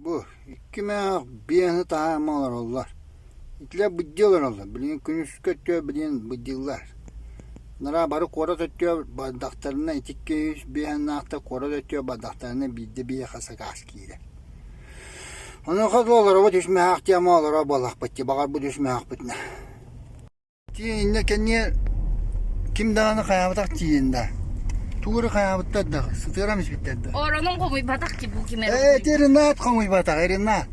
Бу икки мөөх биэһи таһаама олороллор. Итилэр быддыы олороллор, билигин күнүскү өттүгэр билигин быддыыллар. Араа бары куорат өттүгэр бардахтарына итикки үс биэһинээх куорат өттүгэр бардахтарына биирдэ биһиэхэ сакаас киирэр. Онуоха дылы олоробут үс мөһөөк диэн олоро буоллахпыт дии, баҕарбыт үс мөһөөхпүтүнэ. Тиэниннэ кэнниэ ким даҕаны хайаабатах тиэнин да. Тугу эрэ хайаабыттар да, сытыарам испиттэр да. Оронун хомуйбатах ки бу ким эрэ. Эт Иринат хомуйбатах, Иринат.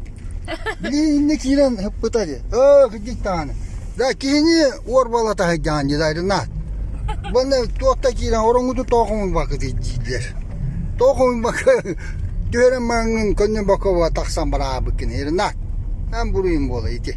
Били инне киирэн ыппыта дии. Өө, кырдьык даҕаны. Да киһини уорбала таһыйдаҕан дии да Иринат. Баны туотта киирэн ороҥҥуту тоо хомуйбакка дииллэр. Тоо хомуйбакка түһэрэн маҥҥын көннө бокова тахсан бараабыккын Иринат. Эн буруйун буола ити.